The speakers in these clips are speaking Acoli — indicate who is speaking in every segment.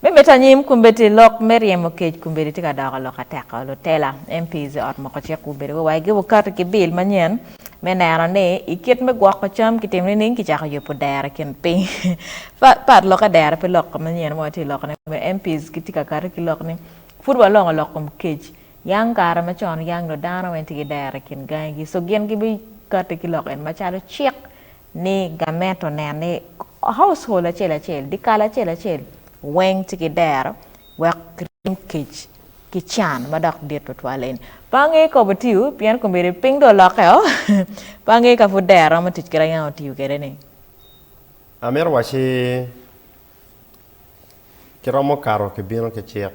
Speaker 1: Me mito anyim, kombeddi lok me ryemo kec kombeddi tye ka doko lok ateka. Lutela, MPs, ot moko cik gubedo wa wagi wukati ki bil manyen me neno ni i kit me gwoko cam kitimo nining ki cako yubu dero i kin piny pa pat loke dero pe lok manyen ma watye loko ne me MPs ki tye ka kati ki lok ni pud wa longo lok kom kec yang kare ma con yang do dano weng tye ki dero i kin gangi gi so gin gi bi kati ki lok en ma calo cik ni gamento nen ni Household acel acel, dikal acel acel weng ci ki dero wek ki ryem kec ki can ma dok dit twatwal eni. Pe angeyo kop otiyo pien kombeddi piny dong olokke o, pe angeyo ka pud dero romo tic kede angeyo otiyo kede ni.
Speaker 2: Amito waci ki romo kato ki bino ki cik,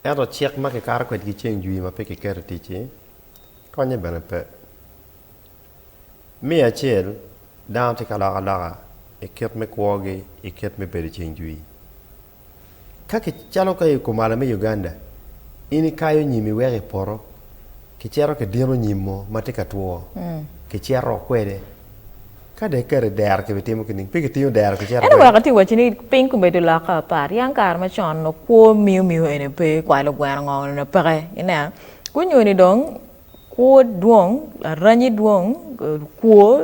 Speaker 2: ento cik ma ki kato kwedgi ceng jwi ma pe ki keto i tic-ci, konye bene pe. Me acel, dano tye ka lok aloka i kit me kwogi i kit me bedo ceng jwii. Ka ki, calo ka i kumalo me Uganda, in ikayo nyim iweko i poto, ki cito ki dino nyim mo ma tye ka two, ki cito kwede. Ka dong iketo i dero ki bi timo ki ning? Pe ki tingo dero ki cito Ento kwede. wek ati wacci ni piny
Speaker 1: kubedo lokke apat. Yam kare macon onongo kwo miyo miyo ene pe, kwayo lugweno ngo ene peke. Ineno? Kunyo ni dong Kwo dwong, aranyi dwong, kwo,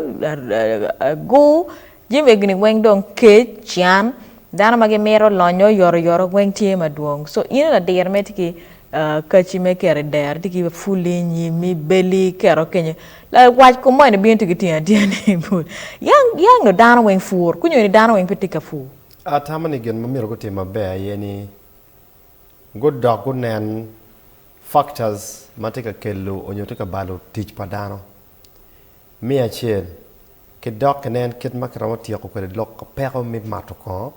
Speaker 1: agur, jami egini weng dong kec, can, dano ma gimito lonyo oyotoyot weng tye madwong. So in ladiro mere tye ki kaci me keto i dero, tye ki puli, nyimi, beli, keto kenyo. Wac kom moni bino tye ki tyeni atya ni yang yang nyo dano weng pur, kunyo ni dano weng pe tye ka pur. Atamo ni gin ma
Speaker 2: myero gutim maber aye ni gudok gunen factors ma tye ka kelo onyo tye ka balo tic pa dano. Me acel, ki dok ki nen kit ma ki romo tyeko kwede lok ki peko me mato kongo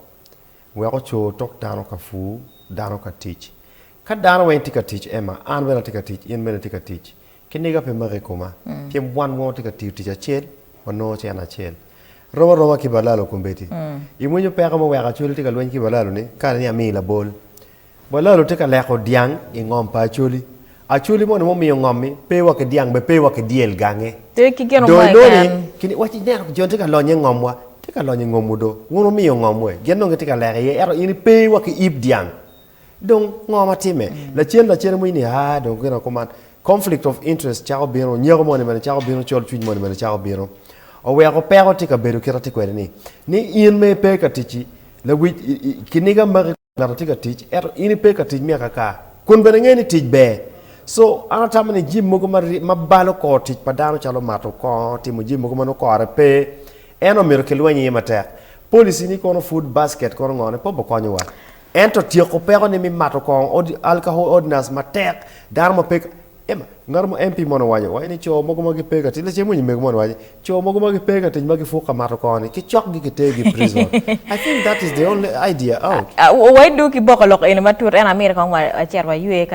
Speaker 2: wek ocoo tok dano ka pur, dano ka tic. Ka dano weng tye ka tic Emma, an bene atye ka tic, in bene itye ka tic, Kiniga pe make i koma, pien wan wongo tye ka tiyo tic acel, wanongo cente acel. Rom aroma ki balalo kombeddi. Imwinyo peko mo wek Acholi tye ka lweny ki balalo-ni kare ni amiyi labol? Balalo tye ka leko dyang i ngom pa Acholi. Acholi moni mumiyo ngom-mi pe wa ki dyang be pe wa ki dyel gange. Tye ki gin mo Dong
Speaker 1: inongo ni, keken.
Speaker 2: kini,
Speaker 1: waci ineno
Speaker 2: jo-ni tye ka lonyo i ngomwa, tye ka lonyo i ngomwu do. Wun wumiyo ngomwu-e, gin dong gitye ka leko iye, ento in ipe wa ki yib dyang. Dong ngo ma timme? Lacen lacen iwinyo ni, aa, dong gin aye kuman. Conflict of interest cako bino, nyeko moni bene cako bino, colcwiny moni bene cako bino. Oweko peko tye ka bedo kit atye kwede-ni, ni in ma ipe ka ticci, lawic, i, i, kiniga magi kong ngat atye ka tic, ento in ipe ka tic myaka aka, kun bene ingeyo ni tic ber. So, an atamo ni jami mogo ma, ma balo kor tic pa dano calo mato kongo, timo jami mogo ma nongo kore pe, eno myero kilweny iye matek. Policy-ni kono, food basket kono ngone, pe obikonyowa. Ento tyeko peko ni mi mato kong odi alkahol ordinance matek dano ma pe Emma, ngato mo MP moni owaco, owaco ni co mogo ma gi pe ka tic, lacen winyi mego moni owaco, co mogo ma gi pe ka tic ma gi puk ka mato kong ni ki cok gi ki ter gi prison. I think that is the only
Speaker 1: idea out. Owaco dong
Speaker 2: ki
Speaker 1: boko lok
Speaker 2: eni
Speaker 1: matut
Speaker 2: ento
Speaker 1: amyero kong
Speaker 2: wa
Speaker 1: cet wa
Speaker 2: ywe
Speaker 1: ka.